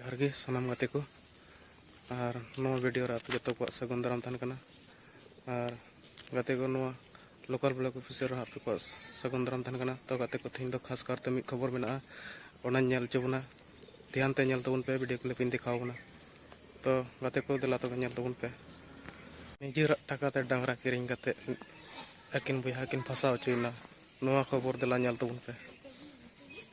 ᱡᱚᱦᱟᱨ ᱜᱮ ᱥᱟᱱᱟᱢ ᱜᱟᱛᱮ ᱠᱚ ᱟᱨ ᱱᱚᱣᱟ ᱵᱷᱤᱰᱤᱭᱳ ᱨᱮ ᱟᱯᱮ ᱡᱚᱛᱚ ᱠᱚᱣᱟᱜ ᱥᱟᱹᱜᱩᱱ ᱫᱟᱨᱟᱢ ᱛᱟᱦᱮᱱ ᱠᱟᱱᱟ ᱟᱨ ᱜᱟᱛᱮ ᱠᱚ ᱱᱚᱣᱟ ᱞᱳᱠᱟᱞ ᱵᱞᱚᱠ ᱚᱯᱷᱤᱥᱟᱨ ᱨᱮᱦᱚᱸ ᱟᱯᱮ ᱠᱚᱣᱟᱜ ᱥᱟᱹᱜᱩᱱ ᱫᱟᱨᱟᱢ ᱛᱟᱦᱮᱱ ᱠᱟᱱᱟ ᱛᱚ ᱜᱟᱛᱮ ᱠᱚ ᱛᱮᱦᱮᱧ ᱫᱚ ᱠᱷᱟᱥ ᱠᱟᱨᱛᱮ ᱢᱤᱫ ᱠᱷᱚᱵᱚᱨ ᱢᱮᱱᱟᱜᱼᱟ ᱚᱱᱟᱧ ᱧᱮᱞ ᱦᱚᱪᱚ ᱵᱚᱱᱟ ᱫᱷᱮᱭᱟᱱ ᱛᱮ ᱧᱮᱞ ᱛᱟᱵᱚᱱ ᱯᱮ ᱵᱷᱤᱰᱤᱭᱳ ᱠᱞᱤᱯ ᱤᱧ ᱫᱮᱠᱷᱟᱣ ᱵᱚᱱᱟ ᱛᱚ ᱜᱟᱛᱮ ᱠᱚ ᱫᱮᱞᱟ ᱛᱚᱵᱮ ᱧᱮᱞ ᱛᱟᱵᱚᱱ ᱯᱮ ᱱᱤᱡᱮᱨᱟᱜ ᱴᱟᱠᱟ ᱛᱮ ᱰᱟᱝᱨᱟ ᱠᱤᱨᱤᱧ ᱠᱟᱛᱮ ᱟᱹᱠᱤᱱ ᱵᱚᱭᱦᱟ ᱠᱤᱱ ᱯᱷᱟᱥᱟᱣ ᱦᱚᱪᱚᱭᱮᱱᱟ ᱱᱚᱣᱟ ᱠᱷᱚᱵᱚᱨ ᱫᱮᱞᱟ ᱧᱮᱞ ᱛᱟᱵᱚᱱ ᱯᱮ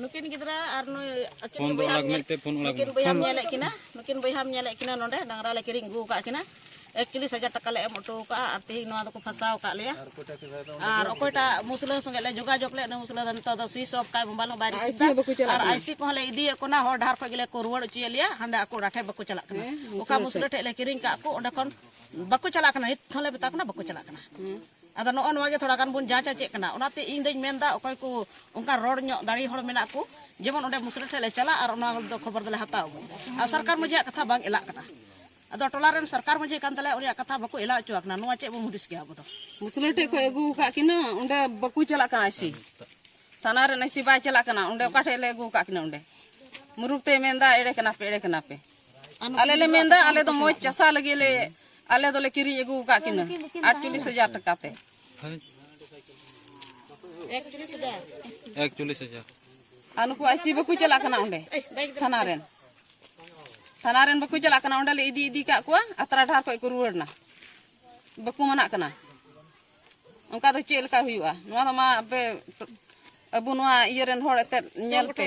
ᱱᱩᱠᱤᱱ ᱜᱤᱫᱽᱨᱟᱹ ᱟᱨ ᱱᱩᱭ ᱟᱹᱠᱤᱱ ᱯᱷᱳᱱ ᱫᱚ ᱵᱚᱭᱦᱟᱢ ᱟᱞᱟᱜᱽ ᱧᱮᱞ- ᱢᱮᱱᱛᱮ ᱯᱷᱳᱱ ᱟᱞᱟᱜᱽ ᱱᱩᱠᱤᱱ ᱵᱚᱭᱦᱟᱢ ᱧᱮᱞᱮᱫ ᱠᱤᱱᱟ ᱱᱩᱠᱤᱱ ᱵᱚᱭᱦᱟᱢ ᱧᱮᱞᱮᱫ ᱠᱤᱱᱟ ᱱᱚᱰᱮ ᱰᱟᱝᱨᱟ ᱞᱮ ᱠᱤᱨᱤᱧ ᱟᱹᱜᱩ ᱟᱠᱟᱫ ᱠᱤᱱᱟ ᱮᱠᱪᱚᱞᱤᱥ ᱦᱟᱡᱟᱨ ᱴᱟᱠᱟ ᱞᱮ ᱮᱢ ᱦᱚᱴᱚ ᱟᱠᱟᱫᱼᱟ ᱟᱨ ᱛᱮᱦᱤᱧ ᱱᱚᱣᱟ ᱫᱚᱠᱚ ᱯᱷᱟᱸᱥᱟᱣ ᱟᱠᱟᱫ ᱞᱮᱭᱟ ᱟᱨ ᱚᱠᱚᱭᱴᱟᱜ ᱢᱩᱥᱞᱟᱹ ᱥᱚᱸᱜᱮ ᱞᱮ ᱡᱳᱜᱟᱡᱳᱜᱽ ᱞᱮᱫ ᱩᱱᱤ ᱢᱩᱥᱞᱟᱹ ᱫᱚ ᱱᱤᱛᱚᱜ ᱫᱚ ᱥᱩᱭᱤᱪ ᱚᱯᱷ ᱠᱟᱭ ᱢᱳᱵᱟᱭᱤᱞ ᱦᱚᱸ ᱵᱟᱭ ᱨᱤᱥᱤᱵᱷ ᱮᱫᱟ ᱟᱨ ᱟᱭᱥᱤ ᱠᱚᱦᱚᱸ ᱞᱮ ᱤᱫᱤᱭᱮᱫ ᱠᱚ ᱠᱟᱱᱟ ᱦᱚᱲ ᱰᱟᱦᱟᱨ ᱠᱷᱚᱡ ᱜᱮᱞᱮ ᱠᱚ ᱨᱩᱣᱟᱹᱲ ᱦᱚᱪᱚᱭᱮᱫ ᱞᱮᱭᱟ ᱦᱟᱸᱰᱮ ᱟᱠᱚ ᱚᱲᱟᱜ ᱴᱷᱮᱡ ᱵᱟᱠᱚ ᱪᱟᱞᱟᱜ ᱠᱟᱱᱟ ᱚᱠᱟ ᱢᱩᱥᱞᱟᱹ ᱴᱷᱮᱡ ᱞᱮ ᱠᱤᱨᱤᱧ ᱠᱟᱜ ᱠᱚ ᱚᱸᱰᱮ ᱠᱷᱚᱱ ᱵᱟᱠᱚ ᱪᱟᱞᱟᱜ ᱠᱟᱱᱟ ᱱᱤᱛ ᱦᱚᱸᱞᱮ ᱢᱮᱛᱟ ᱠᱚ ᱠᱟᱱᱟ ᱵᱟᱠᱚ ᱪᱟᱞᱟᱜ ᱠᱟᱱᱟ ᱟᱫᱚ ᱱᱚᱜᱼᱚ ᱱᱚᱣᱟ ᱜᱮ ᱛᱷᱚᱲᱟ ᱜᱟᱱ ᱵᱚᱱ ᱡᱟᱸᱪᱟ ᱪᱮᱫ ᱠᱟᱱᱟ ᱚᱱᱟᱛᱮ ᱤᱧ ᱫᱚᱧ ᱢᱮᱱ ᱮᱫᱟ ᱚᱠᱚᱭ ᱠᱚ ᱚᱱᱠᱟ ᱨᱚᱲ ᱧᱚᱜ ᱫᱟᱲᱮ ᱦᱚᱲ ᱢᱮᱱᱟᱜ ᱠᱚ ᱡᱮᱢᱚᱱ ᱚᱸᱰᱮ ᱢᱩᱥᱨᱤ ᱴᱷᱮᱱ ᱞᱮ ᱪᱟᱞᱟᱜ ᱟᱨ ᱚᱱᱟ ᱫᱚ ᱠᱷᱚᱵᱚᱨ ᱫᱚᱞᱮ ᱦᱟᱛᱟᱣ ᱟᱹᱜᱩ ᱟᱨ ᱥᱚᱨᱠᱟᱨ ᱢᱟᱹᱡᱷᱤᱭᱟᱜ ᱠᱟᱛᱷᱟ ᱵᱟᱝ ᱮᱞᱟᱜ ᱠᱟᱱᱟ ᱟᱫᱚ ᱴᱚᱞᱟ ᱨᱮᱱ ᱥᱚᱨᱠᱟᱨ ᱢᱟᱹᱡᱷᱤ ᱠᱟᱱ ᱛᱟᱞᱮᱭᱟ ᱩᱱᱤᱭᱟᱜ ᱠᱟᱛᱷᱟ ᱵᱟᱠᱚ ᱮᱞᱟ ᱦᱚᱪᱚ ᱟᱠᱟᱱᱟ ᱱᱚᱣᱟ ᱪᱮᱫ ᱵᱚᱱ ᱦᱩᱫᱤᱥ ᱜᱮᱭᱟ ᱟᱵᱚ ᱫᱚ ᱢᱩᱥᱞᱟᱹ ᱴᱷᱮᱱ ᱠᱚ ᱟᱹᱜᱩ ᱟᱠᱟᱫ ᱠᱤᱱᱟ ᱚᱸᱰᱮ ᱵᱟᱠᱚ ᱪᱟᱞᱟᱜ ᱠᱟᱱᱟ ᱟᱭᱥᱤ ᱛᱷᱟᱱᱟ ᱨᱮᱱ ᱟᱭᱥᱤ ᱵᱟᱭ ᱪᱟᱞᱟᱜ ᱠᱟᱱᱟ ᱚᱸᱰᱮ ᱚᱠᱟ ᱴᱷᱮᱱ ᱞᱮ ᱟᱹᱜᱩ ᱟᱠᱟᱫ ᱠᱤᱱᱟ ᱚᱸᱰᱮ ᱢᱩᱨᱩᱠ ᱛᱮ ᱢᱮᱱᱫᱟ ᱮᱲᱮ ᱠᱟᱱᱟ ᱯᱮ ᱮᱲᱮ ᱠᱟᱱᱟ ᱯᱮ ᱟᱞᱮ ᱞᱮ ᱢᱮᱱᱫᱟ ᱟᱞᱮ ᱫᱚ ᱢᱚᱡᱽ ᱪᱟᱥᱟ ᱞᱟᱹᱜᱤᱫ ᱞᱮ ᱟᱞᱮ ᱫᱚᱞᱮ ᱠᱤᱨᱤᱧ ᱟᱹᱜᱩ ᱟᱠᱟᱫ ᱠᱤᱱᱟᱹ ᱟᱴᱪᱚᱞᱞᱤᱥ ᱦᱟᱡᱟᱨ ᱴᱟᱠᱟ ᱛᱮ ᱮᱠᱪᱚᱞᱞᱤᱥ ᱦᱟᱡᱟᱨ ᱮᱠᱪᱚᱞᱞᱤᱥ ᱦᱟᱡᱟᱨ ᱟᱨ ᱱᱩᱠᱩ ᱟᱭᱥᱤ ᱵᱟᱠᱚ ᱪᱟᱞᱟᱜ ᱠᱟᱱᱟ ᱚᱸᱰᱮ ᱛᱷᱟᱱᱟ ᱨᱮᱱ ᱛᱷᱟᱱᱟ ᱨᱮᱱ ᱵᱟᱠᱚ ᱪᱟᱞᱟᱜ ᱠᱟᱱᱟ ᱚᱸᱰᱮ ᱞᱮ ᱤᱫᱤ ᱤᱫᱤ ᱠᱟᱜ ᱠᱚᱣᱟ ᱟᱛᱨᱟ ᱰᱟᱦᱟᱨ ᱠᱷᱚᱡ ᱠᱚ ᱨᱩᱣᱟᱹᱲ ᱮᱱᱟ ᱵᱟᱠᱚ ᱢᱟᱱᱟᱜ ᱠᱟᱱᱟ ᱚᱱᱠᱟ ᱫᱚ ᱪᱮᱫ ᱞᱮᱠᱟ ᱦᱩᱭᱩᱜᱼᱟ ᱱᱚᱣᱟ ᱫᱚ ᱢᱟ ᱟᱯᱮ ᱟᱵᱚ ᱱᱚᱣᱟ ᱤᱭᱟᱹ ᱨᱮᱱ ᱦᱚᱲ ᱮᱛᱮᱫ ᱧᱮᱞ ᱯᱮ